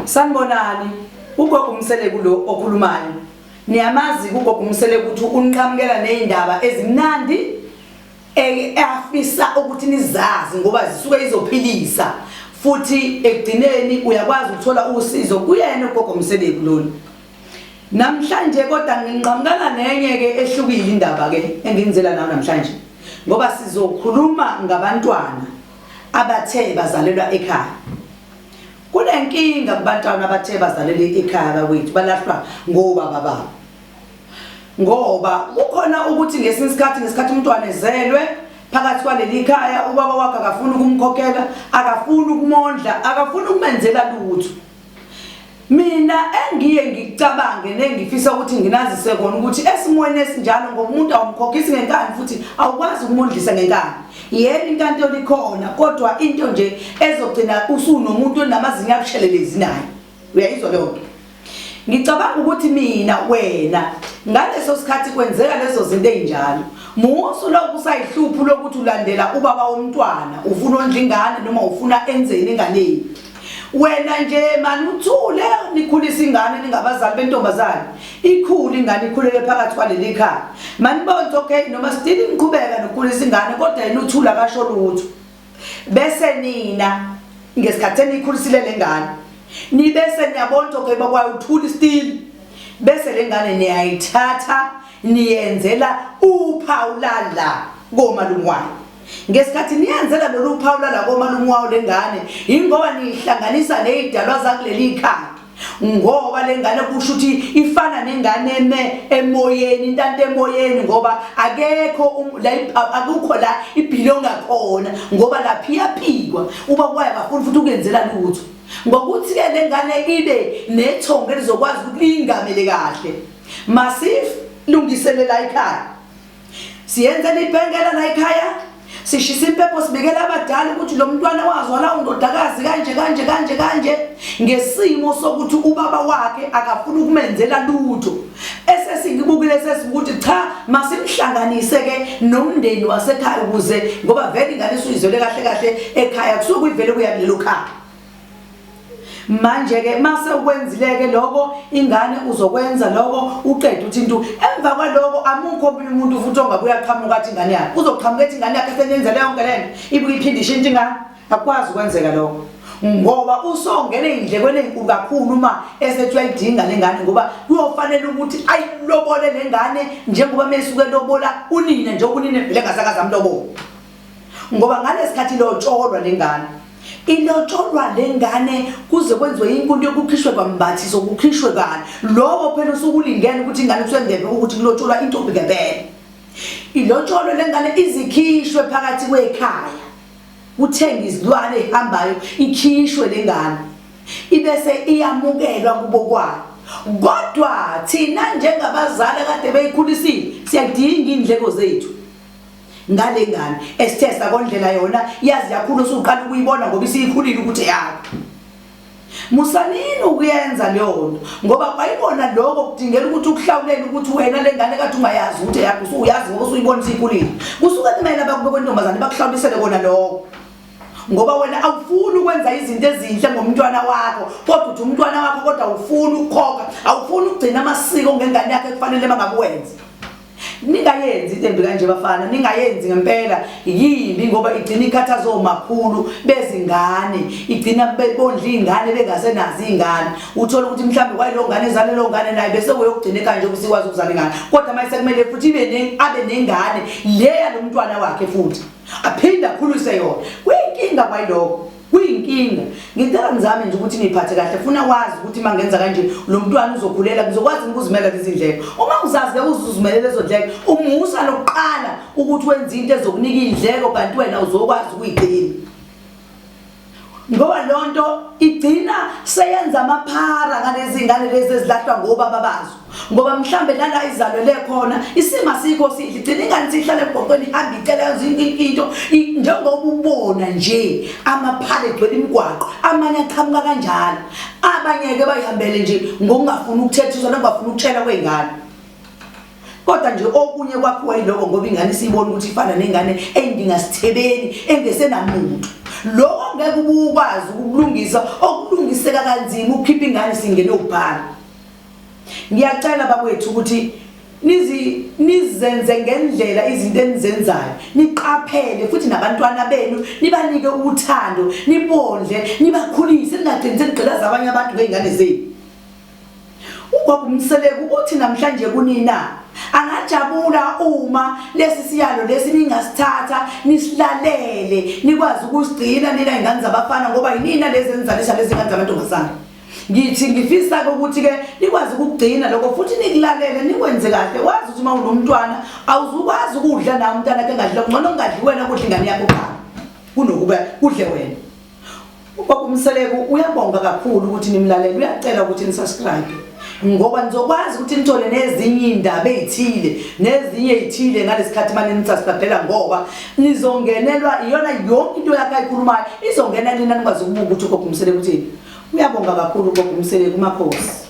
sanibonani ugogo umseleku lo okhulumayo niyamazi ugogo umseleku ukuthi unqamukela nezindaba ezimnandi eafisa ukuthi nizazi ngoba zisuke izophilisa futhi ekugcineni uyakwazi ukuthola usizo kuyena ugogo umseleku lona Namhlanje kodwa nginqamukana nenye ke ehlukile indaba ke enginizela nayo namhlanje ngoba sizokhuluma ngabantwana abathe bazalelwa ekhaya. Kunenkinga kubantwana abathe bazalelwa ekhaya bakwethu balahlwa ngobaba babo. Ngoba kukhona ukuthi ngesinye isikhathi ngesikhathi umntwana ezelwe phakathi kwaleli khaya ubaba wakhe akafuni ukumkhokhela, akafuni ukumondla, akafuni ukumenzela lutho. mina engiye ngicabange nengifisa ukuthi nginazise kona ukuthi esimweni esinjalo ngoba umuntu awumkhokhisi ngenkani futhi awukwazi ukumondlisa ngenkani yena inkantolo ikhona kodwa into nje ezogcina usunomuntu onamazinyo abushelelezi naye uyayizwa leyo nto ngicabanga ukuthi mina wena ngaleso sikhathi kwenzeka lezo zinto ezinjalo musu lokhu usayihluphu lokuthi ulandela ubaba womntwana ufuna ondla ingane noma ufuna enzeni enganeni wena nje mani uthule nikhulisa ingane ningabazali bentombazane ikhulu ingane ikhulele phakathi kwaleli khaya manibonze okay noma sidini niqhubeka nokukhulisa ingane kodwa yena uthula kasho lutho bese nina ngesikhathi enikhulisile lengane nibese niyabona ukuthi okay bakwayo uthuli still bese lengane niyayithatha niyenzela uphawu lala komalungwane ngesikhathi niyenzela lolu phawu lalakomalume wawo le ngane yingoba niyihlanganisa ney'dalwa zakuleli khaya ngoba le ngane kusho ukuthi ifana nengane eme emoyeni intanto emoyeni ngoba akekho um, akukho la ibhilonga khona ngoba laphi iyaphikwa uba kwayo bafuni futhi ukuyenzela lutho ngokuthi-ke le ngane ibe nethongo elizokwazi ukuthi liyingamele kahle masif lungiselela ikhaya siyenzela ibhengela la ekhaya sishisa impepho sibikela abadala ukuthi lo mntwana wazwala undodakazi kanje kanje kanje kanje ngesimo sokuthi ubaba wakhe akafuni ukumenzela lutho esesingibukile sesikuthi cha masimhlanganise ke nomndeni wasekhaya ukuze ngoba vele ingane isuyizwele kahle kahle ekhaya kusuke kuyivele kuya kulelo khaya manje ke mase ukwenzile ke lokho ingane uzokwenza lokho uqede uthi into emva kwaloko amukho omunye umuntu futhi ongabuya qhamuka athi ingane yakhe uzoqhamuka ethi ingane yakhe senyenze leyo nto lento ibuke iphinde ishintshe ingane akwazi ukwenzeka lokho ngoba usongene indlekweni enkulu kakhulu uma esethi uyayidinga lengane ngoba kuyofanele ukuthi ayilobole lengane njengoba mesuke lobola unina njengoba unina vele ngasakaza mlobo ngoba ngalesikhathi ilotsholwa lengane ilotsholwa lengane kuze kwenziwe inkulu yokukhishwe kwambathi sokukhishwe kani lowo phela usukulingene ukuthi ingane kusengebe ukuthi kulotsholwa intombi ngempela ilotsholwe lengane izikhishwe phakathi kwekhaya uthenga izilwane ihambayo ikhishwe lengane ibese iyamukelwa kubo kwayo kodwa thina njengabazali kade beyikhulisile siyadinga indleko zethu ngale ngane esithe sakondlela yona yazi yakhulu usuqala ukuyibona ngoba isiyikhulile ukuthi yakho musanini ukuyenza leyo nto ngoba kwayibona lokho kudingela ukuthi ukuhlawulela ukuthi wena le ngane kade ungayazi ukuthi yakho usuyazi ngoba usuyibona isiyikhulile kusuke kumele abakube kwentombazane bakuhlawulisele kona lokho ngoba wena awufuni ukwenza izinto ezinhle ngomntwana wakho kodwa uthi umntwana wakho kodwa awufuni ukukhokha awufuni ukugcina amasiko ngengane yakho ekufanele bangakuwenza ningayenzi into embi kanje bafana ningayenzi ngempela yimbi ngoba igcina ikhathaza omakhulu bezingane igcina bebondla iy'ngane bengasenazi iy'ngane uthole ukuthi mhlawumbe kwayilo ngane ezale lo ngane naye bese kuyokugcina ekanje ukuthi ikwazi ukuzala ingane kodwa manje sekumele futhi ibe abe nengane le yalo mntwana wakhe futhi aphinde akhulise yona kuyinkinga kwayilokho kuyinkinga ngicela ngizame nje ukuthi ngiyiphathe kahle funa wazi ukuthi uma ngenza kanje lo mntwana uzokhulela ngizokwazi ukuzimela lezi ndleko uma uzazi ke uzuzimele lezo ndleko umusa lokuqala ukuthi wenze into ezokunika indleko kanti wena uzokwazi ukuyigcina ngoba lonto igcina seyenza amaphara ngalezi ngane lezi ezilahlwa ngobaba bazo ngoba mhlambe nala izalwele khona isima sikho sidla igcina ingane sihlale ebhoqweni ihambe icela yenza into njengoba ubona nje amaphale egcwele imigwaqo amanye aqhamuka kanjalo abanye-ke bayihambele nje ngokungafuni ukuthethiswa nokungafuni ukutshela kwey'ngane kodwa nje okunye kwakhiwa yiloko ngoba ingane isiyibona ukuthi ifana nengane eyindinga sithebeni engesenamuntu loko ngeke ubukwazi ukulungisa okulungiseka kanzima ukukhipha ingane singene ubhala ngiyacela bakwethu ukuthi nizi nizenze ngendlela izinto enizenzayo niqaphele futhi nabantwana benu nibanike uthando nibondle nibakhulise ningagcini senigqilaza abanye abantu ngey'ngane zenu ubaba umseleku uthi namhlanje kunina angajabula uma lesi siyalo lesi ningasithatha nisilalele nikwazi ukusigcina nina ingane zabafana ngoba yinina lezi enizalisa lezi ngane zamantombazane ngithi ngifisa-ke ukuthi-ke nikwazi ukugcina lokho futhi nikulalele nikwenze kahle wazi ukuthi uma unomntwana awuzukwazi ukudla nawo umntwana ke ngadlile kungcono kungadli wena kudla ingane yakho qala kunokuba kudle wena ubaba umseleku uyabonga kakhulu ukuthi nimlalele uyacela ukuthi nisubscribe ngoba nizokwazi ukuthi nithole nezinye iy'ndaba ey'thile nezinye ey'thile ngalesikhathi mane nisasibhadela ngoba nizongenelwa iyona yonke into yakhe ayikhulumayo izongena nina nikwazi ukubuka ukuthi ugogo umsele kuthini uyabonga kakhulu ugogo umsele kumakhosi